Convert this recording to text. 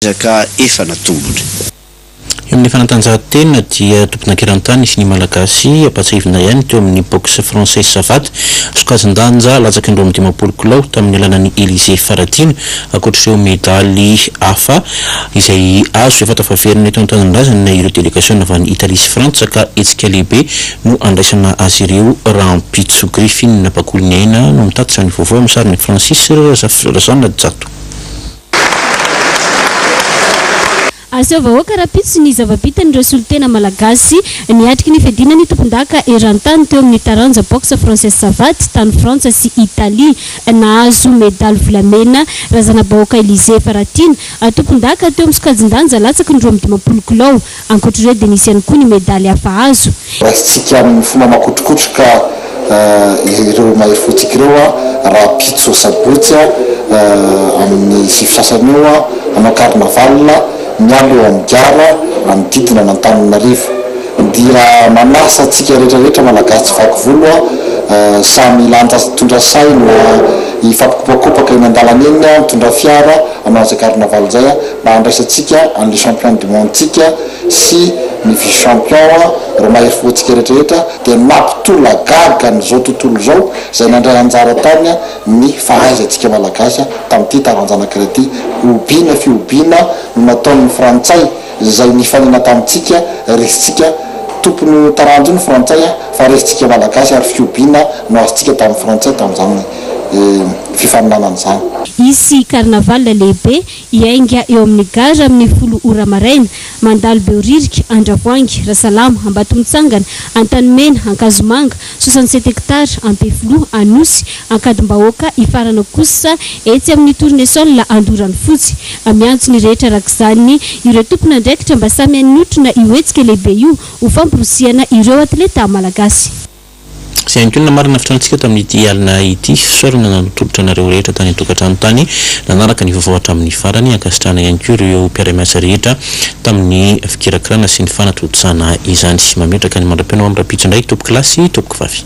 ezaka efa natombony. Eo amin'ny fanatanjahantena dia tompon'ankeran-tany sy ny Malagasy ampahatsiahivina ihany teo amin'ny boxe française savate, sokajin-danja latsaky ny roa amby dimampolo kilao tamin'ny alalan'i Elysée Faratiana, ankoatr'ireo medaly hafa izay azo. Efa tafaverina eto an-tanindrazana ireo delegasiona avy any Italie sy Frantsa ka hetsika lehibe no handraisana azy ireo rahampitso. Griffin Bakoliniaina no mitatitra ny vaovao amin'ny sarin'i Francis Razanajato. Aseho vahoaka rahampitso ny zava-bitan'ireo solontena malagasy niatriky ny fiadiana ny tompondaka eran-tany teo amin'ny taranja Boxe Française Savate tany Frantsa sy Italie. Nahazo medaly volamena Razanabahoaka Elysée Faratiana, tompondaka teo amin'ny sokajin-danja latsaky ny roa amby dimampolo kilao. Ankoatra ireo dia nisy ihany koa ny medaly hafa azo. Raisintsika amin'ny fomba makotrokotroka ireo mahery fontsika ireo rahampitso sabotsy amin'ny sivy sasany eo hanao carnaval miala eo amin'ny gara manodidina an'Antananarivo. Dia manasa antsika rehetra rehetra malagasy tsy vaky volo samy hilanja hitondra saina hifampikopakopaka eny an-dalana eny, mitondra fiara hanao izay carnaval izay. mba handraisantsika an'le champion du monde tsika sy ny vice champion reo mahery fo antsika retraretra dia mampitolagaga an'izao tontolo izao izay nandray anjara tany ny fahaizantsika malagasy tamin'ity taranjanakira ity hobiana fihobiana no nataon'ny frantsay izay nifanena tamintsika resintsika tompony ho taranjo ny frantsay fa resintsika malagasy ary fihobiana no azontsika tamin'ny frantsay tamin'izany fifaninanana izany. Hisy carnaval lehibe Hiainga eo amin'ny gara amin'ny folo ora maraina, mandalo Behoririka, Andravoahangy, Rasalama, Ambatomitsangana, Antanimena, Ankazomanga, soixante sept hectares, Ampefiloha, Anosy, Ankadimbahoaka, hifarana kosa etsy amin'ny Tournesol, Andoranofotsy. Miantso ny rehetra araka izany ireo tompon'andraikitra mba samy hanotrona io hetsika lehibe io ho famporisihana ireo atleta malagasy. Izay ihany koa no namarana ny fitrantsika tamin'ity alina ity. Fisaorana nanao tolotra anareo rehetra tany an-tokantrano tany nanaraka ny vaovao hatramin'ny farany. Ankasitrahana ihany koa ireo mpiara-miasa rehetra tamin'ny fikirakirana sy ny fanatontosana izany. Mametraka ny mandra-peo anao amin'ny rahampitso indray tompoko lahy sy tompoko vavy.